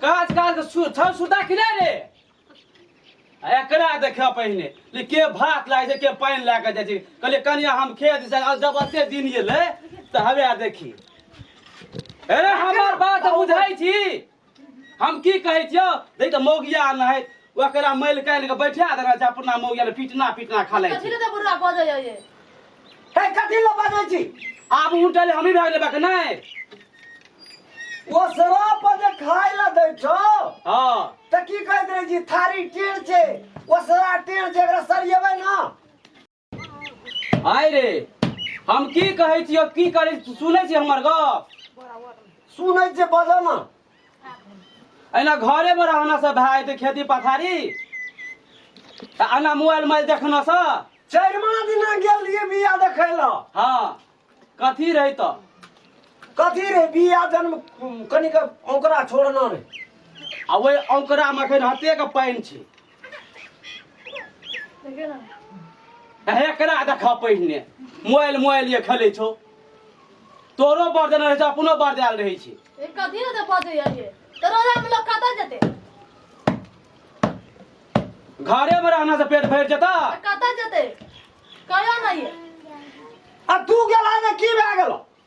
काज काज छौ सुता कि नहि रे एकरा देख पहिने ले के भात लागे छै के पानि लए कऽ जाइ छै कहलियै कनिया हम खेत से जब एते दिन एलै तऽ हवे देखी अरे हमर बात बुझै छी हम की कहै छियौ देख तऽ मौगिया नहि ओकरा मैल काल्हि के बैठा देना छै अपना मौगिया ले पीटना पीटना खा लै छै कथी ले तऽ बुढ़ा बजै ये हे कथी ला बाजै छी आब उठल हमही भाग लेबा के नै ओ सरा पर जे खाय ला दै छौ हां त की कहैत रहै छी थारी टेढ़ छै ओ सरा टेढ़ छै एकरा सरियेबै ना आय रे हम की कहै छियो की करै सुनै छी हमर गप सुनै छै बजऽ ना एना घरे में रहना से भाई ते खेती पथारी त आना मोबाइल मोबाइल देखना से चरमा दिन गेल रहिए बिया देखै लऽ हाँ कथी रही तो कथी रे बिया जन्म कनिक ओकरा छोड़ना रे आ वही औकरा में अखन हते के पानि छै हेकरा देखा पहिने मोबाइल मोबाइल ये खेले छो तोरो पर देने रहे छो अपनो पर देल रहे छी ए कथी ने ते बजे ये तो रोजा में लोग कतऽ जेते घरे में रहना से पेट भर जता आ कतऽ जेते कहियो नहीं है आ तू गेला ने की भए गेलो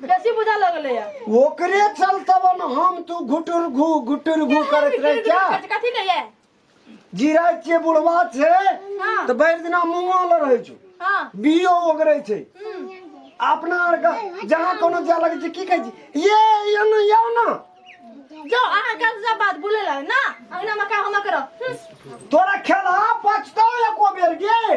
बेसी बुझा लगले या ओकरे चलतब हम तू घुटुर घू घुटुर घू करत रहे क्या कथी के ये जीरा के बुढ़वा छे हाँ। तो भरि दिना मुंगल रहे छु हां बियो ओगरे छे अपना आर का जहां कोनो जा लगे छे की कहे छी ये ये न यो न जो अहाँ का सब बात बोले ला ना अंगना में का हम करो हम्म, तोरा खेला पछतो एको बेर गे